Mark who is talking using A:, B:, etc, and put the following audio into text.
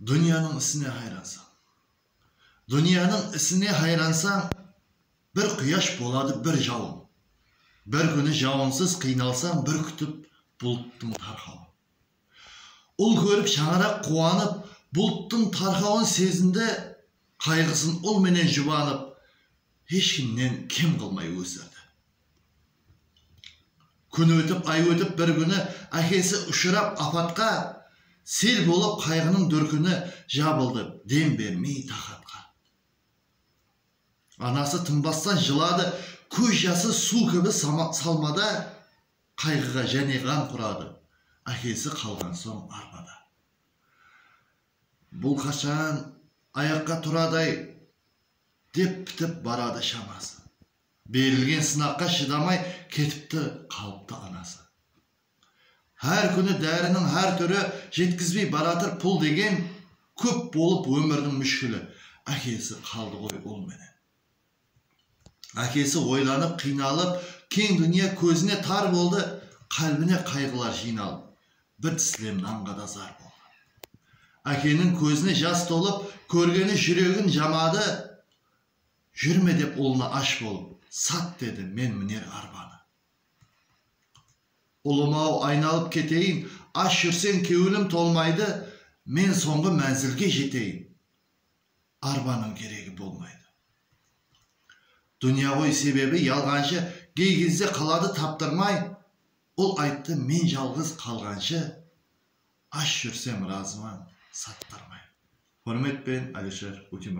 A: Dúnyanıń isine hayransań. Dúnyanıń isine hayransań, Bir quyash boladı bir jawın. Bir kúni jawınsız qıynalsań Bir kútip bulttıń tarqawın. Ul kórip shańaraq quwanıp Bulttıń tarqawın sezindi, Qayǵısın ul menen jubanıp Hesh kimnen kem qılmay ósirdi. Kún ótip, ay ótip, bir kúni ákesi ushırap apatqa, Sel bolıp qayǵınıń dúrkini jabıldı, dem bermey taxatqa. Anası tınbastan jıladı, kóz jası suw kibi salmada, Qayǵıǵa jáne ǵan quradı, ákesi qalǵan soń arpada. Bul qashan ayaqqa turadı-ay, dep pitip baradı shaması. Berilgen sınaqqa shıdamay ketipti qalıptı anası. Hár kúni dáriniń hár túri jetkizbey baratır pul degen kóp bolıp ómiriniń múshkili ákesi qaldı ǵoy ul menen. Ákesi oylanıp qıynalıp keń dúnya kózine tar boldı qálbine qayǵılar jıynalıp bir tislem nanǵa da zar boldı. Ákeniń kózine jas tolıp kórgeni júregin jamadı Júrme dep ulına ash bolıp, sat dedi, men miner arbanı. Ulım-aw, aynalıp keteyin, ash júrseń kewilim tolmaydı, men sońǵı mánzilge jeteyin, arbanıń geregi bolmaydı. Dúnya ǵoy sebebi yalǵanshı gey gezde qaladı taptırmay, ol ayttı, men jalǵız qalǵanshı ash júrsem razıman, sattırmay. Húrmetpen Alisher Utimraev.